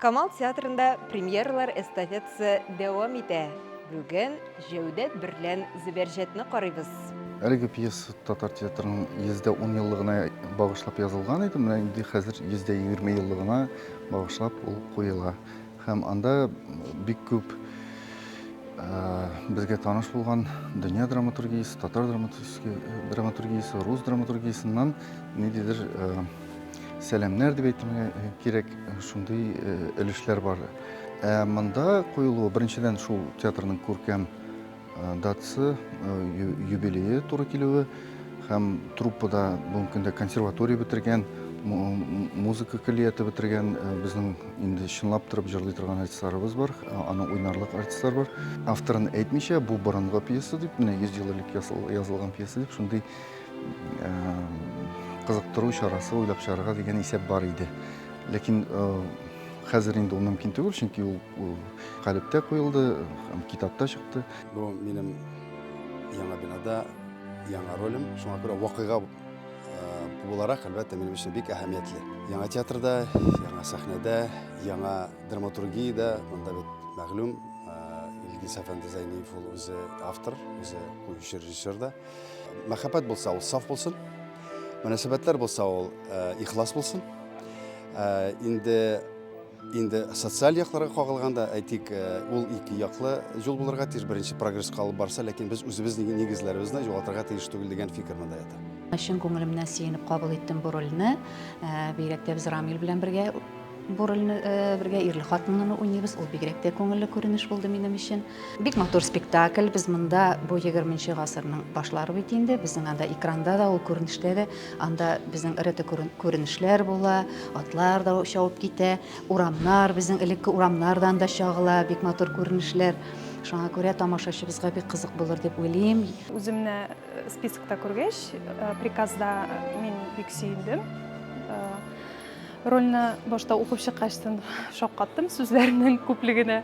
Камал театрында премьералар эстафетасы дәвам итә. Бүген Җәүдәт берлән Зөбәрҗәтне карыйбыз. Әлеге пьеса татар театрының 110 еллыгына багышлап язылган иде, менә инде хәзер 120 еллыгына багышлап ул куела. Һәм анда бик күп безгә таныш булган дөнья драматургиясе, татар драматургиясе, рус драматургиясеннән ниндидер Сәламнәр дип әйтергә э, кирәк, шундый э, өлешләр бар. Ә монда куелуы, беренчедән, шул театрның күркәм э, датасы, юбилее туры килүе һәм труппада бүгенге көндә консерватория бетергән, музыка көллияте бетергән безнең инде чынлап торып җырлый торган артистларыбыз бар, аны уйнарлык артистлар бар. Авторын әйтмичә, бу борынгы пьеса дип, менә 100 ел элек язылган пьеса дип, шундый кызыктыру чарасы уйлап чыгарырга дигән исәп бар иде. Ләкин хәзер инде ул мөмкин түгел, чөнки ул калептә куелды, китапта чыкты. Бу минем яңа бинада яңа ролем, шуңа күрә вакыйга буларак, әлбәттә, минем өчен бик әһәмиятле. Яңа театрда, яңа сәхнәдә, яңа драматургиядә, монда бит мәгълүм Илгиз әфәнде Зәйниев ул үзе автор, үзе куючы режиссер да. Мәхәббәт булса, ул саф булсын. Мөнәсәбәтләр булса, ул э, ихлас булсын. Э, инде инде социаль якларга кагылганда әйтик э, ул ике яклы юл булырга тиеш беренче прогрессқа алып барса ләкин без үзебез нигезләребезне югалтырга тиеш түгел дигән фикер монда ята чын күңелемнән сөенеп кабул иттем бу рольне э, бигрәк тә без рамил белән бергә Бу рольне э, бергә ирле хатынлыны уйныйбыз. Ул бигрәк тә күңелле күренеш булды минем өчен. Бик матур спектакль. Без монда бу 20-нче гасырның башлары бит инде. Безнең анда экранда да, ул күренештә дә, анда безнең эрете күренешләр була, атлар да шауып китә, урамнар, безнең элекке урамнардан да чагыла, бик матур күренешләр. Шуңа күрә тамашачыбызга бик кызык булыр дип уйлыйм. Үземне э, спискта күргәч, э, приказда мин бик сөендем. Рольне башта укып чыккачтын шаккаттым сүзләрнең күплегенә.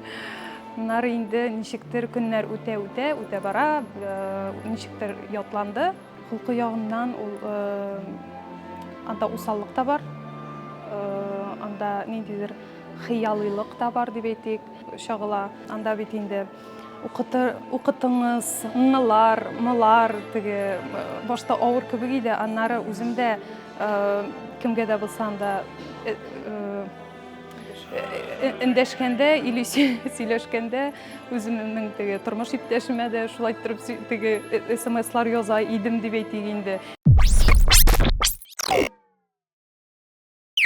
Аннары инде ничектер көннәр үтә үтә үтә бара, ничектер ятланды. Холкы ягыннан ул анда усаллык та бар, анда ниндидер хыялыйлык та бар дип әйтик, чагыла. Анда бит инде Укытыңыз, нлар, млар, теге башта авыр кебек иде, аннары үзем дә кемгә дә булсам да эндәшкәндә или сөйләшкәндә үземнең теге тормыш иптәшемә дә шулай торып теге смслар яза идем дип әйтик инде.